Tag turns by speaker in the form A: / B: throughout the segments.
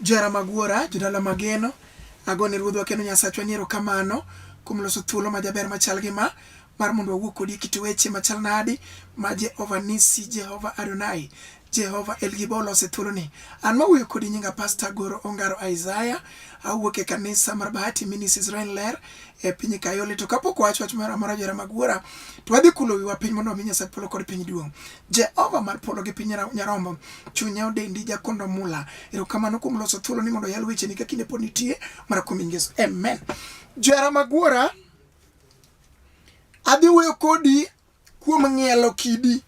A: Jara mag wuora, jodala mageno, agone Ruodhwa kendo Nyasachwa ni erokamano kuom loso thuolo majaber machal gi ma mar mondo wawuo kodi e kit weche machal nadi ma Jehova Nisi, Jehova Adonai, Jehova El Gibo olose thuoloni. An mawuoyo kodi nyinga Pasta Goro Ongaro Isaiah, awuok e kanisa mar Bahati Ministries Rain Ler e piny Kayole. To kapok wawacho wach moro amora jara mag wuora, to wadhi kulo wiwa piny mondo wami Nyasach polo kod piny duong'. Jehova mar polo gi piny nyarombo, chunya odendi jakondo mula. Erokamano kuom loso thuolo ni mondo yal weche ni ka kinde pod nitie mar kuom Yesu. Amen. Jera magwara, adhi wuoyo kodi kuom ng'ielo kidi.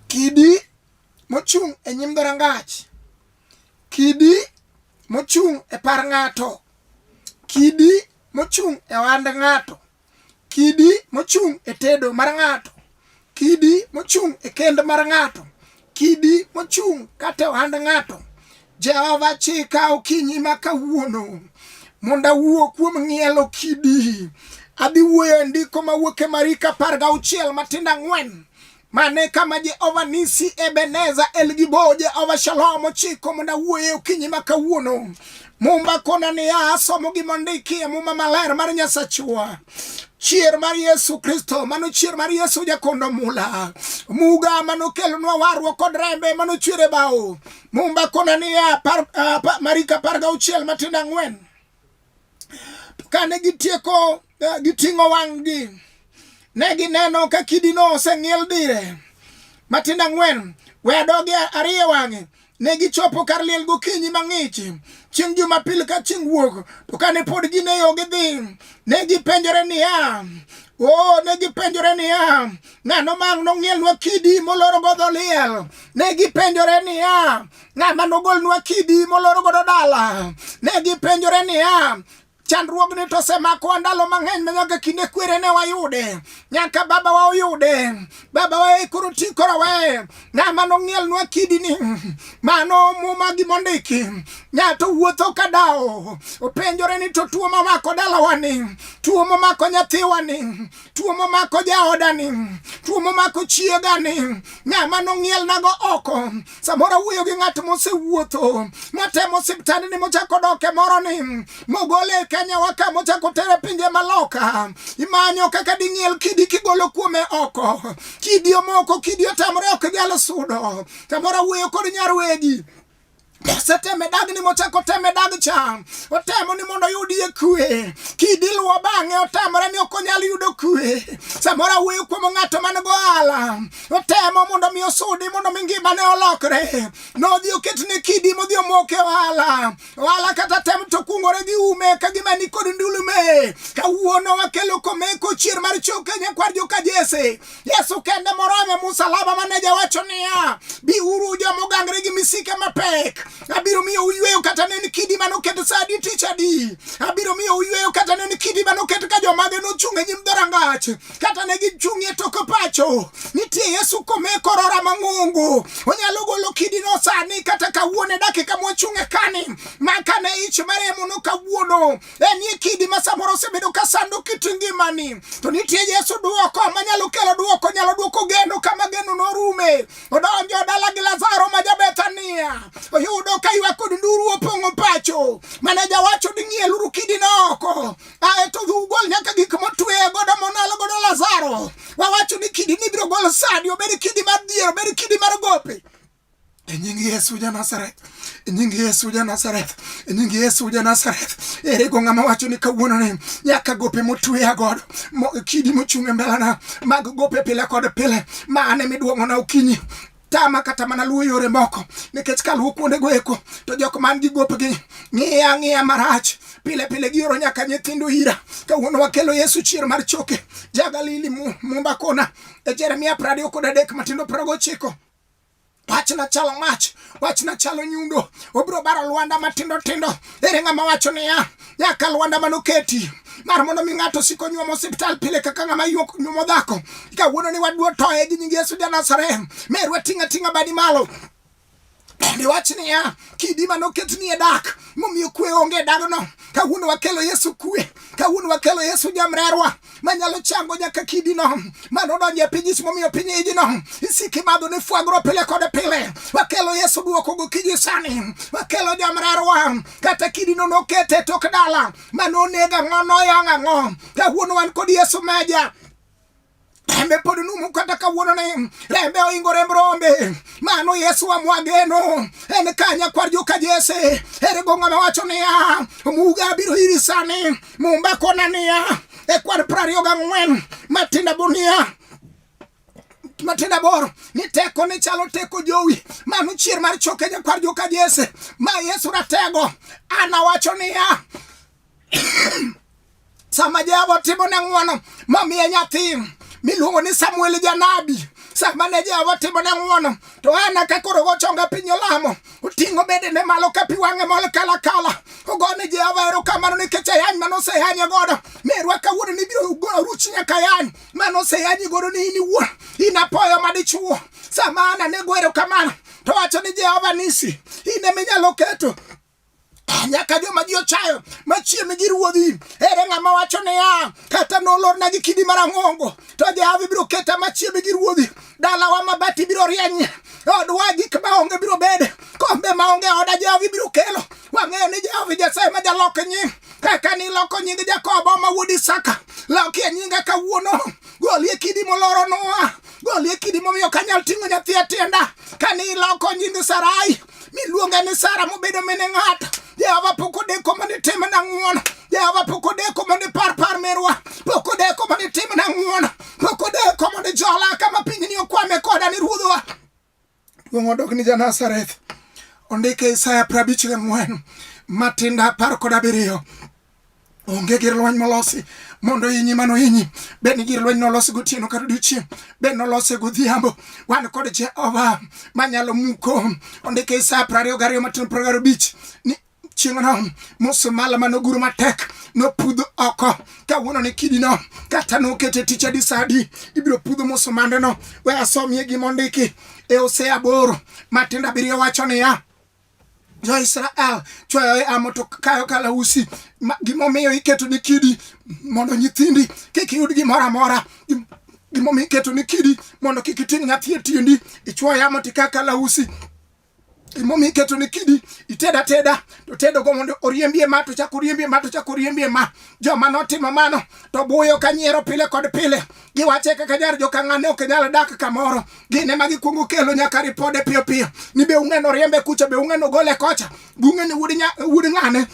A: Kidi mochung' e nyim dhorangach. Kidi mochung' e par ng'ato. Kidi mochung' e ohand ng'ato. kidi mochung' e tedo mar ng'ato, kidi mochung' e kend mar ng'ato, kidi mochung' kata ohand ng'ato. Jehova chika okinyi ma kawuono mondo awuo kuom ng'ielo kidi. Adhi wuoyo e ndiko mawuok e Mariko apar gauchiel matindo ang'wen Mane kama Jehova Nisi, Ebeneza, Elgibo, Jehova Shalom chiko mondo awuoye okinyi ma kawuono. Mumba kona niya, asomo gima ondiki e Muma Maler mar Nyasachwa chier mar Yesu Kristo, mano chier mar Yesu jakondo mula muga mano kelonwa warruok kod rembe mano chwere bao mumba kona niya, par, uh, marika par gauchiel matindo ang'wen To kane gitieko eh, giting'o wang'gi, ne gineno ka kidino oseng'iel dire matindo ang'wen we adogi ariyo wang'e ne gichopo kar liel gokinyi mang'ich chieng' jumapil ka chieng' wuok to kane pod gin e yo gidhi ne gipenjore niya o oh, ne gipenjore niya ng'ano mang' nong'ielnwa kidi moloro godho liel ne gipenjore niya ng'ama nogolnwa kidi moloro godo dala ne gipenjore niya chandruogni to osemakowa ndalo mang'eny ma nyaka kinde kwere ne wayude nyaka babawa oyude babawa ekoro ti koro we ng'ama nong'ielnwa kidini mano muma gimondiki ng'ato wuotho ka dawo openjore ni to tuo mamako dalawani tuo mamako nyathiwani tuo momako jaodani tuo momako chiegani ng'ama nong'ielnago oko samoro wuoyo gi ng'at mosewuotho matemo siptandni mochako doke moro ni mogole e kenya waka mochako tere pinje maloka imanyo kaka ding'iel kidi kigolo kuome oko kidi omoko kidi otamore ok nyal sudo samoro wuoyo kod nyarwegi oseteme dag ni mochako teme dag cha otemo ni mondo oyudie kwe kidiluwo bang'e otamore ni ok onyal yudo kwe samoro awuoyo kuom ng'ato man go ala otemo mondo mi osudi mondo mi ngimane olokre nodhi oketne kidi modhi omoke ohala ohala kata tem to kungore gi ume ka gima ni kod ndulume kawuono wakelo komeko chier mar choke nyakwar joka jese Yesu kende morome musalaba mane jawacho niya, biuru joma ogangre gi misike mapek, abiro miyo uyweyo kata ne ni kidi mane oket sa adi tich adi, abiro miyo uyweyo kata ne ni kidi mane oket ka jomage nochung' e nyim dhorangach, kata ne gichung' e tok pacho. Nitie Yesu kome e kor ora mang'ongo, onyalo golo kidino sani kata kawuono e dakika mwachung' e kani, ma kane ich maremo no kawuono En e kidi ma samoro osebedo ka sando kit ngimani. To nitie Yesu duoko ma nyalo kelo duoko, nyalo duoko geno kama geno norume. Odonjo dala gi Lazaro ma Jabethania. Oyudo ka ywak kod nduru opong'o pacho. Mane jawacho ni ng'ieluru kidi no oko. Ae to ugol nyaka gik motwe godo monalo godo Lazaro. Wawacho ni kidi ni biro gol sadi, obed kidi mar dhier, obed kidi mar gope. E nying Yesu ja Nazareth, e nying Yesu ja Nazareth, e nying Yesu ja Nazareth. Ere go ng'ama wacho ni kawuono ni nyaka gope motweya godo kidi mochung' e mbelana mag gope pile kod pile ma ane miduong'ona okinyi tama kata mana luwo yore moko nikech ka luwo kuondego eko to jok man gi gopgi ng'iya ng'iya marach pile pile gioro nyaka nyithindo ira kawuono wakelo yesu chier mar choke jagalili mumba kona e jeremia prariyo kod adek matindo prago chiko Wachna chalo mach, wachna chalo nyundo, obiro baro lwanda matindo tindo. Ere ng'ama wacho niya, nyaka lwanda manoketi mar mondo mi ng'ato siko nyuomo osiptal pile kaka ng'ama yuok nyuomo dhako. Kawuono ni waduo toye gi nying Yesu ja Nazareth, merwa ting'a ting'a badi malo bende wach niya kidi ma noket ni e dak momiyo kwe onge e dagno kawuono wakelo yesu kwe kawuono wakelo yesu jamrerwa manyalo chango nyaka kidino mano odonjo e piny ismomiyo piny ijino isiki madho ni fwagro pile kod pile wakelo yesu duoko gokinyi sani wakelo jamrarwa kata kidino nokete tok dala mano onega ng'o noyang' ang'o kawuono wan kod yesu meja rembe pod numu kata kawuono ni rembe oingo remb rombe mano yesu amwageno en kanya kwar joka jese erego ng'ama wacho niya omuga abiro iri sani Mumba kona niya e kwar prario ga ngwen matinda bunia matinda boro ni teko ni chalo teko jowi manu chier mar choke ja kwar joka jese ma yesu ratego ana wacho niya sama jehova otimo ne ng'wono mamiye nyathi miluongo ni samuel janabi sama ne jehova otimo ne ng'wono To Ana ka koro gochonga piny olamo, oting'o bedene malo ka pi wang'e mol kalakala. Ogo ni Jehova erokamano nikech ayany mane oseyanye godo. Merwa kawuono ni biro ruchi nyaka yany mane oseyanyi godo ni in iwuon. In apoyo madichuo. Sama Ana ne go erokamano, to wacho ni Jehova nisi, in ema inyalo keto nyaka joma ji ochayo machiem gi ruodhi ere ng'ama wacho niya kata nolorna gi kidi marang'ongo to jehova ibiro keta machiem gi ruodhi dalawa mabati biro rieny odwa gik maonge biro bede kombe maonge oda jehova ibiro kelo wang'eyo ni jehova nyasaye ma jalok nying kaka niloko nying jakobo ma wuod isaka lokie nyinga kawuono golie kidi moloro noa golie kidi momiyo kanyal ting'o nyathi atienda kane iloko nying sarai miluonga ni Sara mobedo mine ng'ata Jehova pok odeko mondo itimna ng'wono Jehova pok odeko mondo ipar par merwa pok odeko mondo itimna ng'wono pok odeko mondo ijola kama pinyni okwame koda ni ruodhwa duong' odok ni Janazareth ondike Isaya prabich gi ng'wen matinda apar kod abiriyo onge gir lweny molosi mondo inyi mano inyi bed ni gir lweny nolosi gotieno kata odiochieng' bed nolose godhiambo wan kod jehova manyalo muko ondike isa e prariyo gariyo matin pragaro bich ni chieng'no musumala mane oguro matek nopudh oko kawuono ni kidino kata nokete tich adi sa adi ibiro pudho musumandeno we asomie gima ondiki e ose aboro matindo abiriyo wacho niya jo Israel chweyo e amo to kayo kalausi gimomiyo iketo ni kidi mondo nyithindi kik yud gimoro amora gimomiyo iketo ni kidi mondo kik iting' nyathi e tiendi ichwoyo yamo tika kalausi gimomiyo iketo ni kidi iteda teda to tedogo mondo oriembie ma to chak oriembie ma to chak oriembie ma joma notimo mano to buyo ka nyiero pile kod pile giwache kaka jar jokang'ane ok nyal dak kamoro gin ema gikwongo kelo nyaka ripode piyo piyo ni be ung'eno riembe kucha be ung'eno gole kocha bung'eni wud ng'ane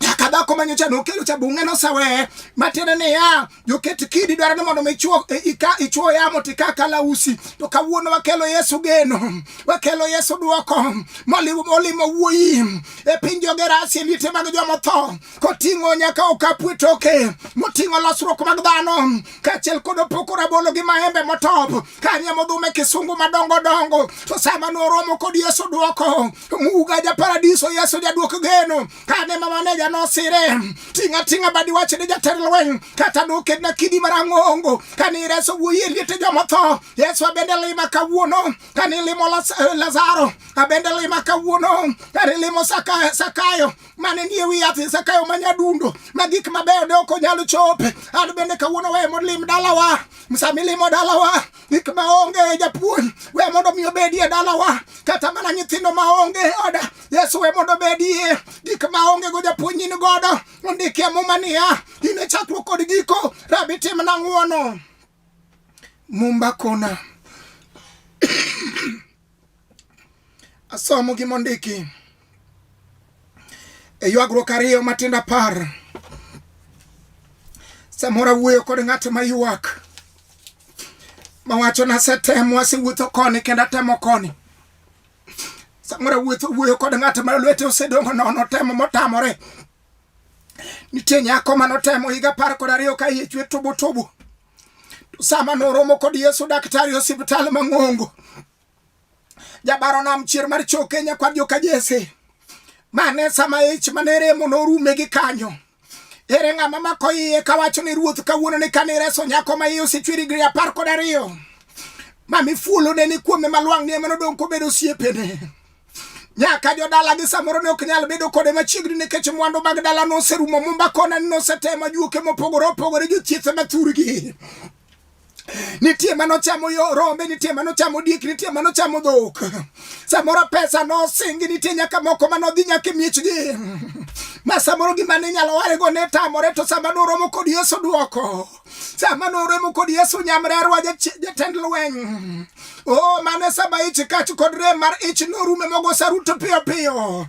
A: nyaka dhako ma nyocha nokelo cha bunge noseweye matiende niya joket kidi dwaro ni mondo michuo e, ika ichuo yamo tika kalausi to kawuono wakelo yesu geno wakelo yesu dwoko molimo molimo wuoyi e piny jogerasi e liete mag jomotho koting'o nyaka okapu e toke moting'o losruok mag dhano kaachiel kod opoko rabolo gi maembe motop kanye modhume kisungu madongo dongo to sama noromo kod yesu dwoko muga ja paradiso yesu jadwok geno kane ma maneja nosire ting'a ting'a badi wach ni jatend lweny kata nokedna kidi marang'ongo kane ireso wuoyi e liete jomotho yesu abende lima kawuono kane ilimo lazaro abende lima kawuono kane ilimo sakayo mane nie wi yath Zakayo ma nyadundo ma gik mabeyo ne ok onyal chope. An bende kawuono we mondo lim dalawa, sami limo dalawa gik maonge japuonj, we mondo mi obedie dalawa, kata mana nyithindo maonge oda Yesu we mondo obedie gik maonge go japuonj in godo, ondike muma niya, in e chakruok kod giko, Rabi timna ng'wono. Mumba kona Asomo gi mondiki e ywagruok ariyo matindo apar. Samoro awuoyo kod ng'at ma ywak mawacho nasetemo asewuotho koni kendo atemo koni samoro awuotho wuoyo kod ng'at ma lwete osedongo nono temo motamore nitie nyako manotemo higa apar kod ariyo ka iye chwe tubu tubu To sama noromo kod Yesu daktari osiptal mang'ongo jabaro nam chier mar cho Kenya kwa joka Jesse mane sama ich mane remo norume gi kanyo ere ng'ama mako iye kawacho ni ruoth kawuono ni kane reso nyako ma iye osechweri gri apar kod ariyo ma mifuolone ni kuome malwang' ni ema nodong' kobedo osiepene nyaka jodalagi samoro ne ok nyal bedo kode machiegni nikech mwandu mag dala noserumo mumba kona ni nosetemo juoke mopogore opogore jothiethe mathurgi nitie mano chamo yo rombe nitie mano chamo diek nitie mano chamo dhok samoro pesa nosingi nitie nyaka moko manodhi nyaka e miechgi ma samoro gima ne inyalo warego ne tamore to sama noromo kod yesu dwoko sama noremo kod yesu nyamrerwa jatend lweny o mane saba ich kach kod rem mar ich norume mogo saruto piyo piyo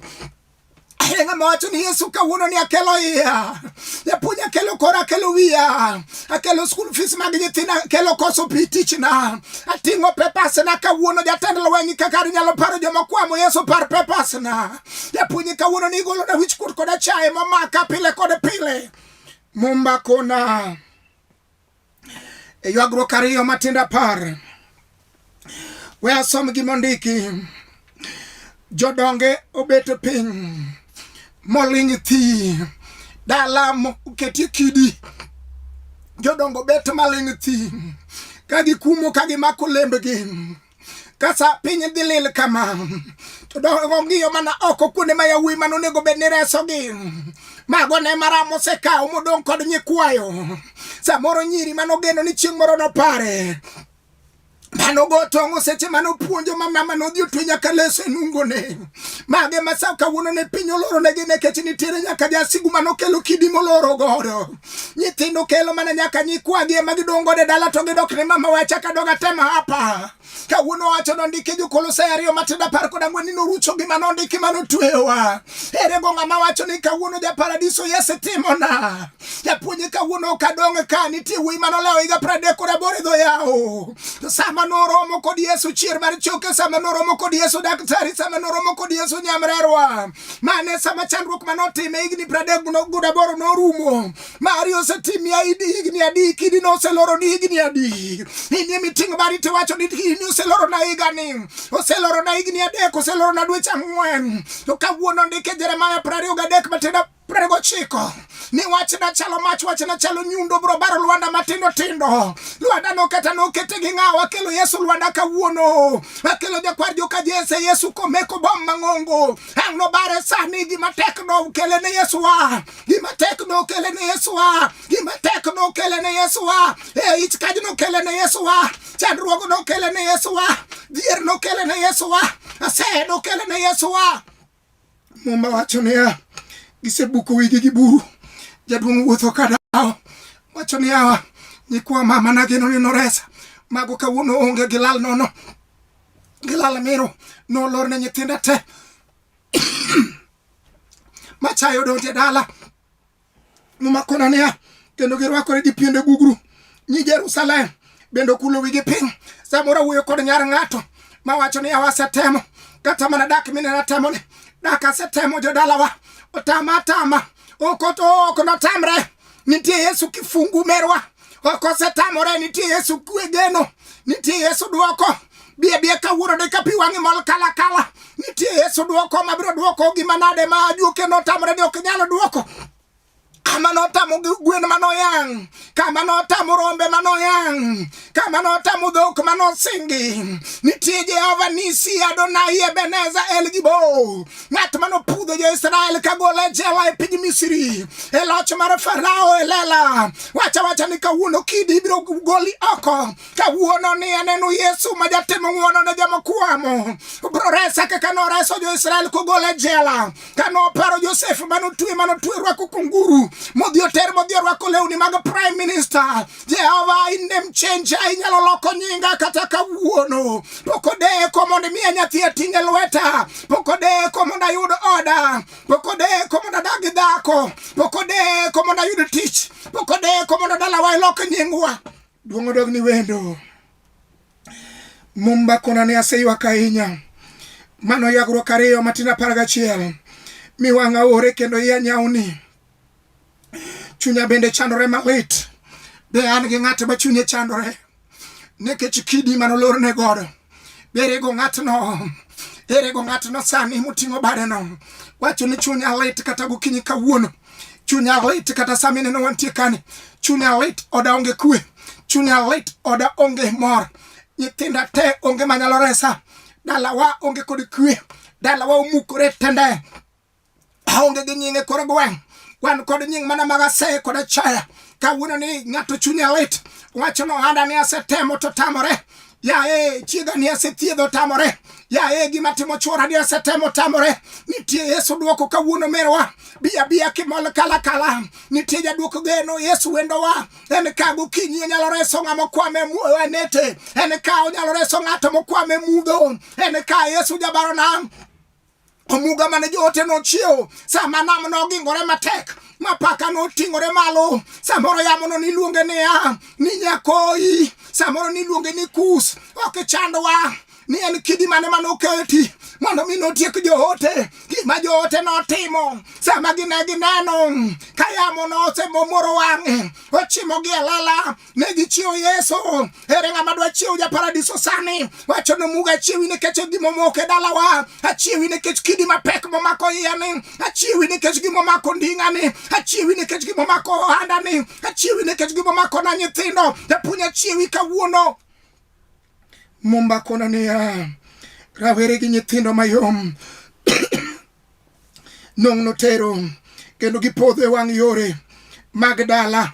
A: Enga mawacho ni Yesu kawuono ni akelo iya. Japuonj akelo kora akelo wiya. Akelo school fees mag nyithinda akelo koso pi tichna. Ating'o papers na kawuono jatend lweny kaka nyalo paro joma kwamo Yesu par papers na. Japuonj kawuono ni igolo na wich kuot koda chaye momaka pile kod pile. Mumba kona e ywagruok ariyo matindo apar we asom gima ondiki jodonge obet piny moling thi dala moketie kidi jodongo bet maling thi ka gikumo ka gimako lembgi kasa piny dhi lil kama to dogo ng'iyo mana oko kuonde ma yawuoyi mane onego bed ni resogi mago ne maram osekawo modong' kod nyikwayo samoro nyiri mane ogeno ni chieng' moro nopare mano go tong'o seche mane opuonjo ma mama nodhi otwe nyaka leso e nungone mage ma sa kawuono ne piny oloro negi nekech nitiere nyaka jasigu mane okelo kidi moloro godo Nyithindo kelo mana nyaka nyikwagi ema gidong' godo e dala to gidok ne mama wacha ka doga tema hapa. Kawuono wacho nondiki Jokolosai ariyo matindo apar kod ang'wen ni norucho gima nondiki ma notweyowa. Ere go ng'ama wacho ni kawuono ja paradiso Yesu timona? Japuonje kawuono ok adong' ka nitie wuoyi ma nolewo higa piero adek kod aboro e dho yawo. To sama noromo kod Yesu chier mar choke, sama noromo kod Yesu daktari, sama noromo kod Yesu nyamrerwa. mane sama chandruok mane otime higni pradek godaboro norumo mari osetimia higni adi kidi noseloro ni higni adi inie miting'o mari tiwacho ni ini oseloro na higani oseloro na higni adek oseloro na dweche ang'wen to kawuono ndike jeremaya prariyo gadek matenda prariyo gochiko ni wachna chalo mach wachna chalo nyundo bro baro lwanda matindo tindo lwanda noketa nokete gi ng'awa akelo yesu lwanda kawuono akelo jakwar joka jese yesu komeko bom mang'ongo ang' nobare sani gima tek nokele ne yesu wa gima tek nokele ne yesu wa gima tek nokele ne yesu wa e ich kaj nokele ne yesu wa chandruogo nokele ne yesu wa dhier nokele ne yesu wa aseye nokele ne yesu wa Muma wacho niya, gisebuko wigi gi buru, jaduong' wuotho ka dawo. Wacho niya, nyikwa mama nageno ni noresa, mago kawuono onge gilal nono, gilal miro nolor ne nyithinda te machayo donje dala Mumakona niya, kendo girwakore gi piende gugru. Nyi Jerusalem bende okulo wigi piny. Samoro awuoyo kod nyar ng'ato mawacho ni awa asetemo kata mana dak mine natemo ni dak asetemo jodalawa otama atama ok ok notamre nitie Yesu kifungu merwa ok osetamore nitie yesu kwe geno nitie yesu dwoko bie bie kawuono de ka pi wang'i mol kala kala nitie yesu dwoko mabiro dwoko gima nade ma ajuoke notamore ni ok nyalo dwoko kama notamo gwen manoyang kama notamo rombe manoyang kama notamo dhok manosingi nitie jehova nisi adonai ebeneza el gibo ng'at mane opudho jo-Israel kagolo e jela e piny Misri e loch mar Farao e lela. Wacha wacha ni kawuono kidi ibiro goli oko. Kawuono ni aneno Yesu ma jatimo ng'wono ne joma kwamo. Obiro resa kaka noreso jo-Israel kogolo e jela. Ka noparo Josef mane otwe mane otwe rwako kunguru modhi oter modhi orwako lewni mag prime minister. Jehova inde mchenja inyalo loko nyinga kata kawuono. Pok odeko mondo imiya nyathi ating' e lweta. Pok odeko mondo ayud oda. Pok odeko mondo adag gi dhako. Pok odeko mondo ayud tich. Pok odeko mondo dalawa ilok nyingwa. Duong' odog ni wendo. Mumba kona ne aseywak ahinya. Mano yagruok ariyo matin apar gachiel. Mi wang'a ore kendo iya nyawni. chunya bende chandore malit be an gi ng'at ma chunye chandore nikech kidi manolorne godo be erego ng'atno erego ng'atno sani moting'o badeno wacho ni chunya lit kata gokinyi kawuono chunya lit kata sami neno wantie kani chunya lit oda onge kwe chunya lit oda onge mor nyithinda te onge manyalo resa dalawa onge kod kwe dalawa omukore tende aonge gi nyinge koro gweng' wan kod nying mana mag aseye kod achaya kawuono ni ng'ato chunye lit wacho ni ohanda ni asetemo to tamore yaye chiega ni asethiedho tamore yaye gima timo chwora ni asetemo tamore nitie yesu dwoko kawuono merwa biya biya kimol kala kala nitie jadwoko geno yesu wendowa en ka gokinyi onyalo reso ng'a mokwame anete en ka onyalo reso ng'ato mokwame mudho en ka yesu jabarona omuga mane joote nochiewo sama nam nogingore matek mapaka noting'ore malo samoro yamono niluonge niya ni nyakoyi samoro niluonge ni kus ok ichandwa ni en kidi mane mane oketi mondo mi notiek joote gima joote notimo sama gine gineno ka yamo nosemomoro wang'e ochimogi e lela ne gichiwo Yesu. Ere ng'ama dwa chiwo ja paradiso sani? Wacho nomuga achiwi nikech gima omoko e dalawa, achiwi nikech kidi mapek momako iyani, achiwi nikech gima omako nding'ani, achiwi nikech gima omako ohandani, achiwi nikech gima omako na nyithindo. Japuonj achiwi kawuono. Mumba kono niya, rawere gi nyithindo mayom nong' notero kendo gipodho e wang' yore mag dala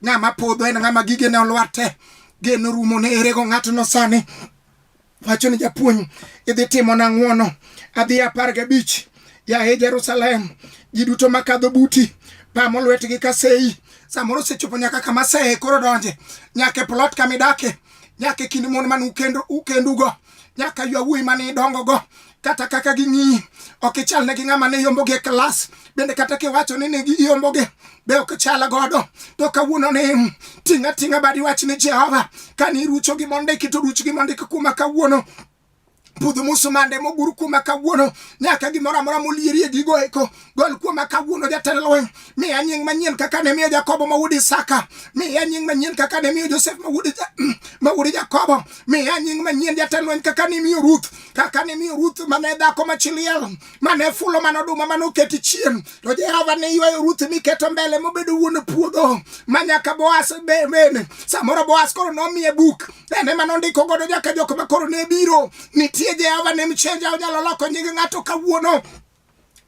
A: ng'ama podho en ng'ama gige ne olwarte gen orumo ne erego ng'atno sani wacho ni japuonj idhi timo na ng'wono adhi apar gabich yaye jerusalem ji duto makadho buti pamo lwetgi ka seyi samoro osechopo nyaka kama seye koro donje nyaka e plot kama idake nyaka e kind mon man ukendugo nyaka ywa wuoyi mane idongogo kata kaka ging'iyi ok ichal ne gi ng'ama ne yombogi e klas bende kata kiwacho ni ne giyombogi be ok chal godo to kawuono ni ting' ating'a badi wach ni jehova ka ni irucho gi mondiki to ruch gi mondiki kuma kawuono budho musumande mogur kuma kawuono nyaka gimoro amora molierie gigo eko Gol kuoma kawuono jatend lweny, miya nying manyien kaka ne miyo Jakobo ma wuod Isaka, miya nying manyien kaka ne miyo Josef ma wuod ma wuod Jakobo, miya nying manyien jatend lweny kaka ne miyo Ruth, kaka ne miyo Ruth mane dhako ma chiliel, mane fulo mano oduma mane oketi chien, to Jehova ne ywayo Ruth miketo mbele mobedo wuon puodho ma nyaka Boaz be- bende. Samoro Boaz koro nomiye buk, en ema nondiko godo nyaka jok ma koro ne biro. Nitie Jehova ne mchenja onyalo loko nying ng'ato kawuono.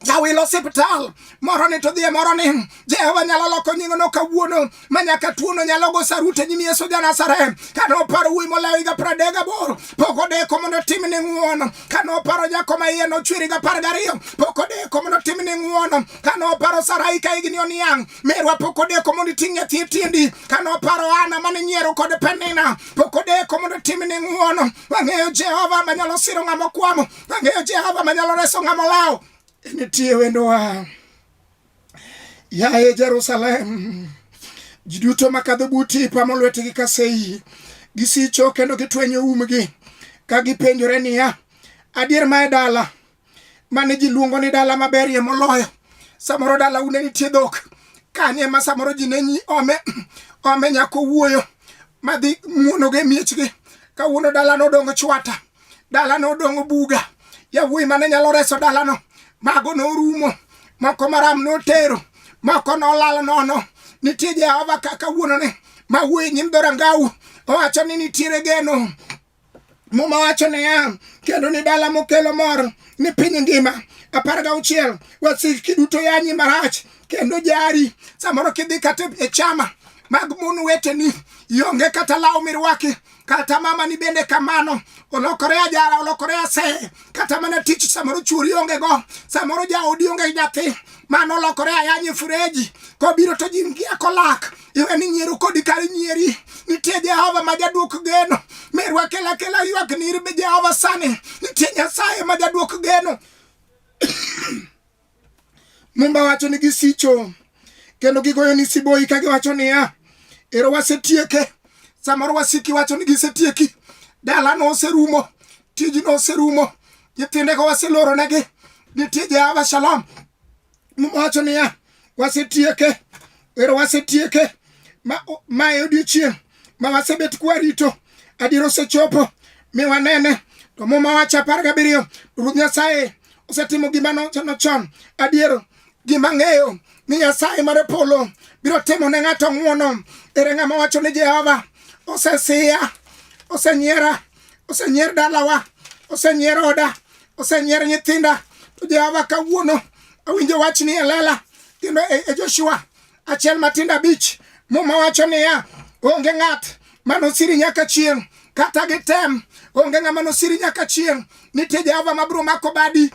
A: jawilo osiptal moro ni to dhie moro ni jehova nyalo loko nying'no kawuono ma nyaka tuono nyalo go sarute nyim yesu ja nazareth ka noparo wuoyi molayo higa pradek gaboro pok odeko mondo otim ni ng'uono ka noparo nyako ma iye nochweri ga par gariyo pok odeko mondo otim ni ng'uono ka noparo sarai ka higni oniang' merwa pok odeko mondo iting' nyathi e tiendi ka noparo ana mane nyiero kod penina pok odeko mondo otim ni ng'uono wang'eyo jehova manyalo siro ng'ama okwamo Ang'eyo Jehova manyalo reso ng'ama olawo. Nitie wendowa. Yaye Jerusalem, ji duto makadho buti pamo lwetgi ka seyi, gisicho kendo gitwenyo umgi ka gipenjore niya, adier ma e dala mane ji luongo ni dala maberie moloyo, samoro dala une nitie dhok kanye ma samoro ji ne nyi ome ome nyako wuoyo madhi muonogo e miechgi kawuono dalano odong chwata dalano odong' buga yawuoyi mane nyalo reso dalano mago norumo moko maram notero moko nolal nono nitie jehova kaka wuonone ma wuoyi nyim dhorangau owacho ni nitiere geno muma wacho niya kendo ni dala mokelo mor ni piny ngima apar ga auchiel wasiki duto yanyi marach kendo jari samoro kidhi kata e chama mag mon weteni ionge kata law mirwaki kata mama ni bende kamano olokore ajara olokore ase kata mana tich samoro chuori onge go samoro jaodi onge nyathi mano olokore ayanye fureji kobiro to jingia kolak iwe ni nyieru kodi kar nyieri nitie jehova ma jaduok geno merwa kela kela ywak ni irbe jehova sani nitie nyasaye ma jaduok geno Mumba wacho ni gisicho kendo gigoyo ni siboi ka giwacho niya, ero wasetieke. Samoro wasiki wacho ni gisetieki, dalano oserumo, tijno oserumo, nyithindego waseloronegi, nitie Jehova Shalom. Mumba wacho niya, wasetieke Ero wasetieke ma, ma e odiechieng' ma wasebet kwarito adier osechopo mi wanene to muma wacho apar gabiriyo ruoth nyasaye osetimo gima nochano chon adier gima ng'eyo ni nyasaye mar polo biro timo ne ng'ato ng'wono ere ng'ama wacho ni jehova osesiya osenyiera osenyier dalawa osenyier oda Osenyier nyithinda to Jehova kawuono awinjo wach ni elela kendo e, e Joshua achiel matindo abich muma wacho niya onge ng'at manosiri nyaka chieng' kata gitem onge ng'ama nosiri nyaka chieng' nitie Jehova mabiro mako badi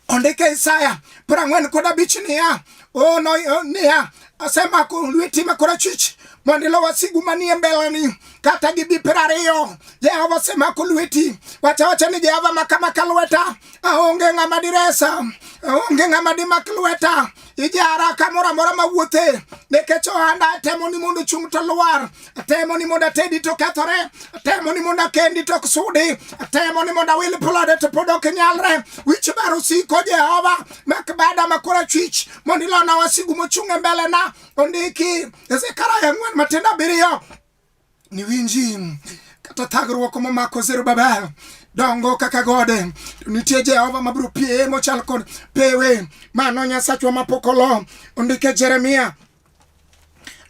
A: ondike Isaya prang'wen kod abich niya oh, no, oh, niya asemako lweti ma korachwich mondo ilo wasigu manie mbeleni kata gi bi piero ariyo jehova osemako lweti wacha wacha ni jehova makamaka lweta aonge ng'ama diresa aonge ng'ama dimak lweta ijara kamoro amora mawuothe nikech ohanda temo ni mondo chung' to lwar temo ni mondo atedi to kethore temo ni mondo akendi to ok sudi temo ni mondo awil plode to pod ok nyalre wich bar osiko jehova mek bada makora chwich mondo ilona wasigu mochung' e mbelena ondiki ezekaraya ang'wen matindo abiriyo ni winji kata thagruok momako zerubabel dongo kaka gode to nitie jehova mabiro pie mochal kod pewe mano nyasachwa mapok olo ondike jeremia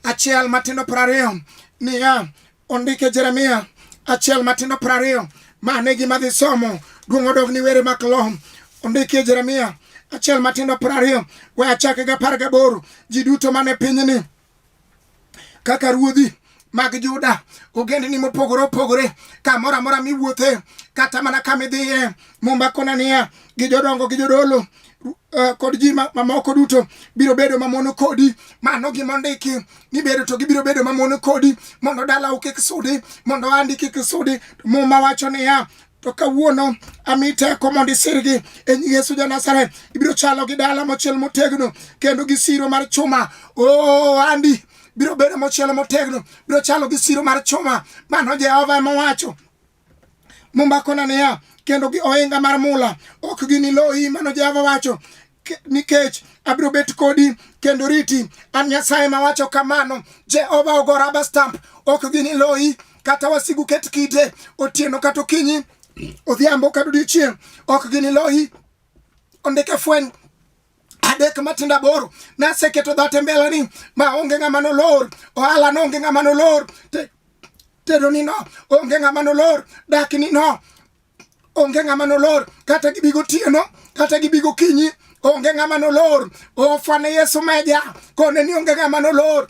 A: achiel matindo piero ariyo niya ondike jeremia achiel matindo piero ariyo ma ne gima dhi somo duong' odog ni were mak lo ondikie jeremia achiel matindo piero ariyo we achake gi apar gaboro ji duto mane pinyni kaka ruodhi mag Juda, ogendni mopogore opogore, kamoro amora miwuothe, kata mana kama idhiye, Mumba Konania gi jodongo gi jodolo Uh, kod ji mamoko duto biro bedo mamono kodi mano gima ondiki ni bedo to gibiro bedo mamono kodi mondo dalau kik sudi mondo andi kik sudi muma wacho niya to kawuono ami teko mondo isirgi e nying Yesu ja Nazareth. Ibiro chalo gi dala mochiel motegno kendo gi siro mar chuma. Oh, Andy biro bedo mochiel motegno, biro chalo gi siro mar chuma. Mano Jehova ema owacho. Mumbakona niya, kendo gi ohinga mar mula ok giniloyi, mano Jehova wacho. nikech abiro bet kodi kendo riti. An Nyasaye mawacho kamano. Jehova ogo raba stamp, ok gini loyi kata wasigu ket kite otieno kata okinyi odhiambo kata odiochieng' ok gini loyi. Ondike fweny adek matindo aboro naseketo dhat e mbelani ma onge ng'ama nolor ohala no onge ng'ama nolor tedoni no onge ng'ama nolor dakni no onge ng'ama nolor kata gibi gotieno kata gibi gokinyi onge ng'ama nolor ofwane yesu meja kone ni onge ng'ama nolor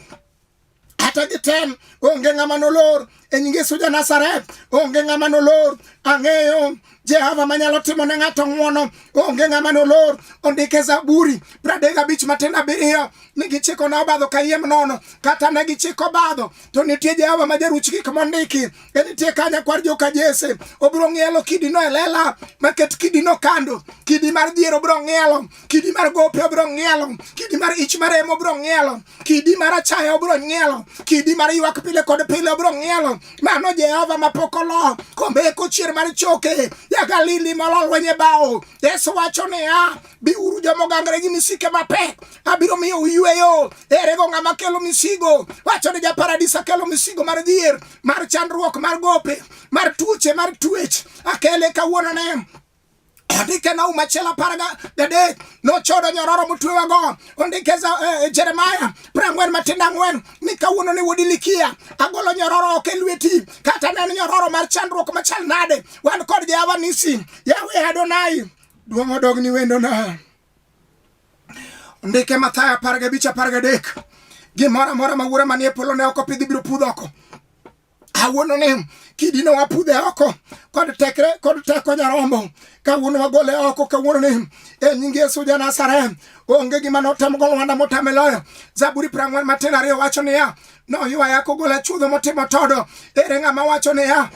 A: kata gitem onge ng'ama nolor e nying yesu ja nasaret onge ng'ama nolor ang'eyo jehova manyalo timo ne ng'ato ng'wono onge ng'ama nolor ondike zaburi pradek abich matin abiriyo ni gichiko na obadho kayiem nono kata ne gichiko obadho to nitie jehova ma jaruch gik mondiki e nitie ka nyakwar joka jese obiro ng'ielo kidino e lela maket kidino kando kidi mar dhier obiro ng'ielo kidi mar gope obiro ng'ielo kidi mar ich mar emo obiro ng'ielo kidi mar achaya obiro ng'ielo kidi mar ywak pile kod pile obiro ng'ielo mano jehova mapok olo kombeko chier mar choke jagalili molo lwenye bao yesu wacho niya biuru joma ogangre gi misike mapek abiro miyo uyweyo erego ng'ama kelo misigo wacho ni japaradis akelo misigo mar dhier mar chandruok mar gope mar tuoche mar tuech akele kawuono ne ondike na umachiel apar gadek nochodo nyororo motwewago ondike za eh, jeremaya prang'wen matindo ang'wen ni kawuono ni wuod ilikia agolo nyororo ok e lweti kata ne en nyororo mar chandruok machal nade wan kod jehova nisi yawe adonai duong' odogni wendona Ndike Mathayo apar gabich apar gadek gimoro amora ma wuora manie polo ne ok opidh ibiro pudh oko awuono ni kidino wapudhe oko kod tekre kod teko nyarombo kawuono wagole oko kawuono ni e nying Yesu ja Nazareth onge gima notem go wanda motame loyo Zaburi prang'wen matin ariyo wacho niya noywa yako gola chudho motimo todo ere ng'ama wacho niya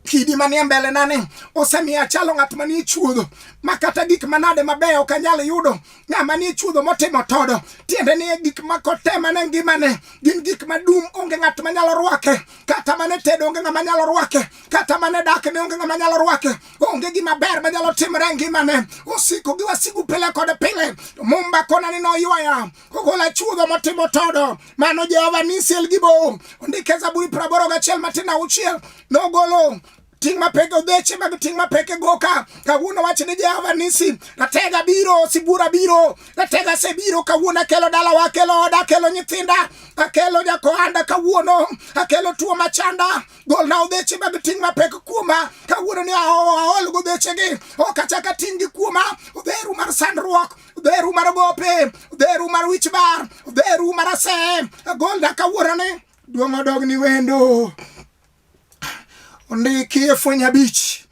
A: kidi manie mbelenani osemiyo achalo ng'at manie chuodho ma kata gik manade mabeyo ok anyal yudo ng'ama nie chuodho motimo todo tiende ni gik ma kotemane ngimane gin gik madum onge ng'at manyalo rwake kata mane tedo onge ng'ama nyalo rwake kata mane dak ne onge ng'ama nyalo rwake onge gima ber manyalo timore ngimane osiko gi wasigu pile kod pile mumba konani noywaya ogolo achuodho motimo todo mano jehova nisiel gi bo ondike zaburi praboro gachiel matin auchiel nogolo ting' mapek odheche mag ting' mapek e goka kawuono wach ni jehova nisi ratega biro sibura biro ratega sebiro kawuono akelo dalawa akelo oda akelo nyithinda akelo jakohanda kawuono akelo tuo machanda golna odheche mag ting' mapek kuoma kawuono ni aol godhechegi ok achaka ting' gi kuoma odheru mar sandruok dheru mar gope dheru mar wich bar dheru mar ase golda kawuorani duong' odogni wendo ondiki e fweny abich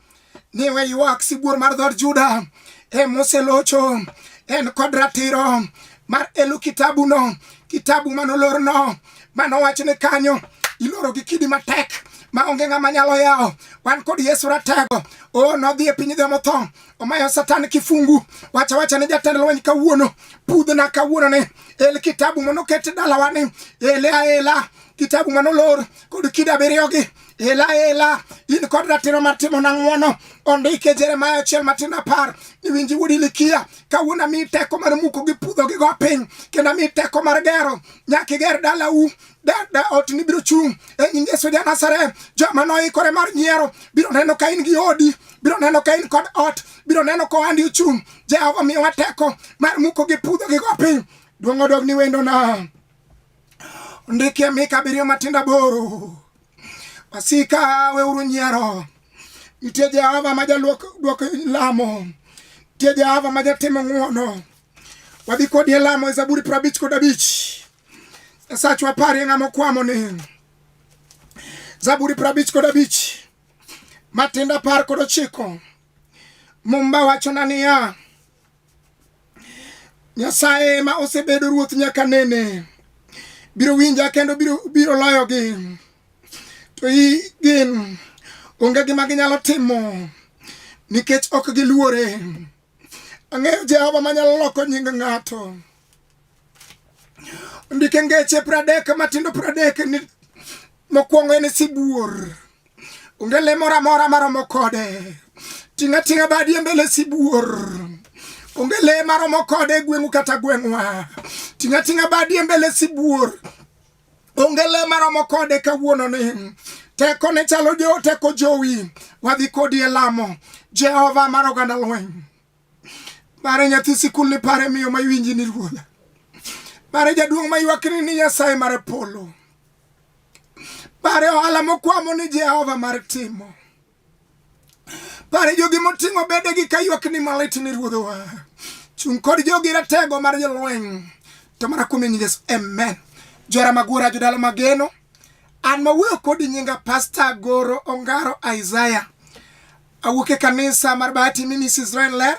A: ni we ywak sibuor mar dhod juda e moselocho en kod ratiro mar elu kitabuno kitabu manolorno manowach ni kanyo iloro gi kidi matek ma onge ng'ama nyalo yawo wan kod yesu ratego o nodhi e piny jomotho omayo satan kifungu wacha wacha ne jatend lweny kawuono pudhna kawuono ni el kitabu manoket dalawa ni ele aela kitabu manolor kod kida abiriyogi ela ela in kod ratiro mar timo na ng'wono ondike jeremaya achiel matin apar iwinji wuod ilikia kawuono ami teko mar muko gi pudho gi go piny kendo ami teko mar gero nyaka iger dalau da ot ni biro chung' e nying Yesu ja Nazareth joma noikore mar nyiero biro neno ka in gi odi biro neno ka in kod ot biro neno ka ohandi ochung' Jehova miyowa teko mar muko gi pudho gi go piny duong' odog ni wendona ndikie mika abiriyo matindo aboro wasika weuru nyiero nitie Jehova ma jaduoko lamo nitie Jehova ma jatimo ng'wono wadhi kodi e lamo e Zaburi prabich kod abich esachwa pari ng'ama okwamo ni zaburi prabich kod abich matinda par kod ochiko mumba wachona niya nyasaye ma osebedo ruoth nyaka nene biro winja kendo biro, biro loyogi to i gin onge gima ginyalo timo nikech ok giluore Ang'eyo Jehova manyalo loko nying ng'ato. Ndike ngeche pradek matindo pradek ni mokwongo en sibuor. Onge le moro amora maromo kode. Ting'a ting'a badi e mbele sibuor. Onge le maromo kode gweng'u kata gweng'wa. Ting'a ting'a badi e mbele sibuor. onge le maromo kode kawuono ni teko ne chalo jo teko jowi wadhi kodi e lamo jehova mar oganda lweny pare nyathi sikul ni pare miyo ma iwinji ni ruodha pare jaduong' ma ywakni ni nyasaye mar polo pare ohala mokwamo ni jehova mar timo Pare jogi moting'o bedegi ka ywakni malit ni ruodhowa. Chung' kod jogi ratego mar jolweny. To mana kuom nying Yesu. Amen. Jora magura jodala mageno. An mawuoyo kodi nyinga Pastor Goro Ongaro Isaiah. Awuok e kanisa mar Bahati Ministries Israel Ler.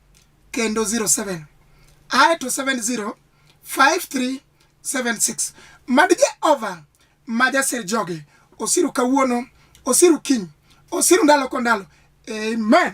A: kendo 07 ae to 70 5376 mad jehova ma jasir joge osiru kawuono osiru kiny osiru ndalo ko ndalo amen